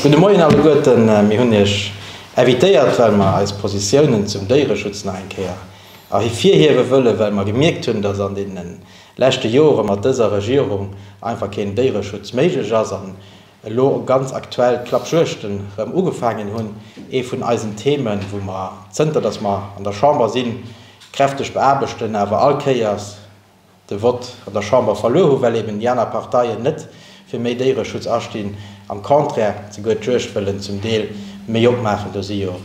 Gudde Moien alleguerten. Mir hunn Iech invitéiert, well mer eis Positiounen zum Déiereschutz nach eng Kéier ervirhiewe wëllen, well mer gemierkt hunn, dass an deene leschte Jore mat dëser Regierung einfach keen Déiereschutz méiglech ass an elo ganz aktuell d'Klappjuegten rëm ugefaangen hunn. Ee vun eisen Themen, wou mer, zënter dass mer an der Chamber sinn, kräfteg beaarbechten, awer all Kéiers, de Vott an der Chamber verluer hu well eben déi aner Parteien net fir méi Déiereschutz astinn, am Contraire souguer d'Juegd wëllen zum Deel méi opmaachen. Do si jo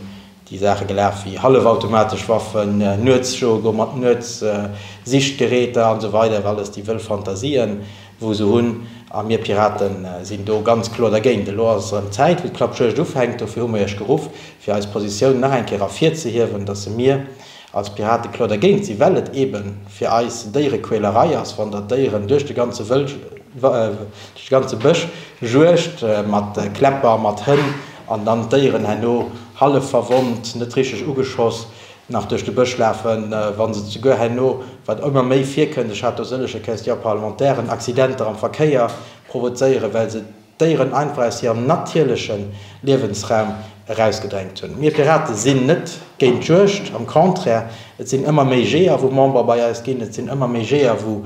déi Saache gelaf wéi hallefautomatesch Waffen, Nuetsjoe goe mat Nuetssichtgeräter an esou weider, alles déi wëll Fantasien wou se hunn a mir Pirate sinn do ganz kloer dergéint. Elo ass erëm Zäit wou d'Klappjuegd ufänkt, dofir hu mer Iech geruff fir eis Positioun nach eng Kéier ervirzehiewen, datt se mir, Als Pirate kloer dergéint si well et eben fir eis Déierequälerei ass wann der Déieren duerch de ganze Wëlsch, duerch de ganze Bësch juegt mat Kläpper, mat Hënn an dann d'Déieren herno hallef verwonnt, net richteg ugeschoss nach duerch de Bësch lafen, wann se souguer herno, wat ëmmer méi virkënnt, ech hat do sëllege Question parlementairen, Accidenter am Verkéier provozéieren well se. Déieren einfach aus hirem natierleche Liewensraum erausgedrängt hunn. Mir Piraten sinn net géint d'Juegd, am Contraire, et sinn ëmmer méi Jeeër wou Member bei eis ginn, et sinn ëmmer méi Jeeër wou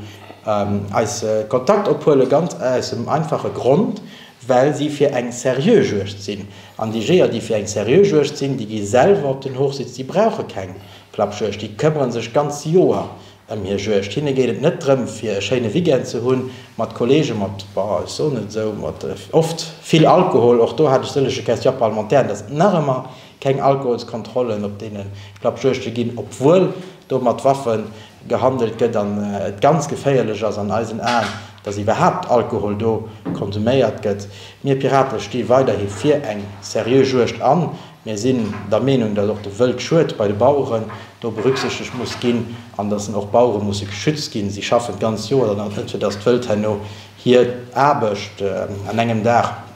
eis Kontakt ophuelen, ganz aus dem einfache Grond, well si fir eng seriö Juegd sinn. An déi Jeeër déi fir eng seriö Juegd sinn, déi gi selwer op den Hochsitz, déi brauche keng Klappjuegd, déi këmmere sech d'ganz Joer Ëm hie juegt. Hinne geet et net drëm, fir e schéine Weekend ze hunn mat Kolleege mat, bah, ech soen et esou, mat oft vill Alkohol. Och do hat ech sëllege Question parlementaire, dass et nach ëmmer keng Alkoholskontrollen op deene Klappjuegte ginn, obwuel do mat Waffe gehandelt gëtt an et ganz geféierlech ass an eisen Aen, dass iwwerhaapt Alkohol do konsuméiert gëtt. Mir Pirate sti weiderhi fir eng seriö Juegt an. Mir sinn der Meenung, datt och de Wëldschued bei de Baueren do berücksichtegt muss ginn an datt och d'Bauere musse geschützt ginn. Si schaffen d'ganz Joer dann och net, fir datt d'Wëld herno hir Aarbecht an engem Dag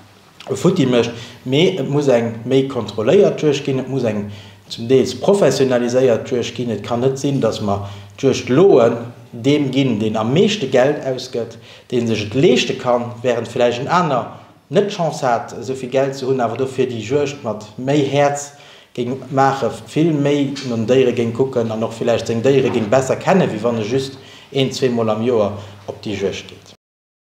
futti mécht. Mee et muss eng méi kontrolléiert Juegd ginn, et muss eng zum Deels professionaliséiert Juegd ginn. Et kann net sinn, datt mer d'Juegdloen deem ginn, deen am meeschte Geld ausgëtt, dee sech et leeschte kann, während villäicht en aner, net d'Chance hat esou vill Geld ze hunn, awer dofir déi Juegd mat méi Häerz géing maachen, vill méi no den Déiere géing kucken an och villäicht seng Déiere géing besser kennen, wéi wann e just een, zwee Mol am Joer op déi Juegd geet.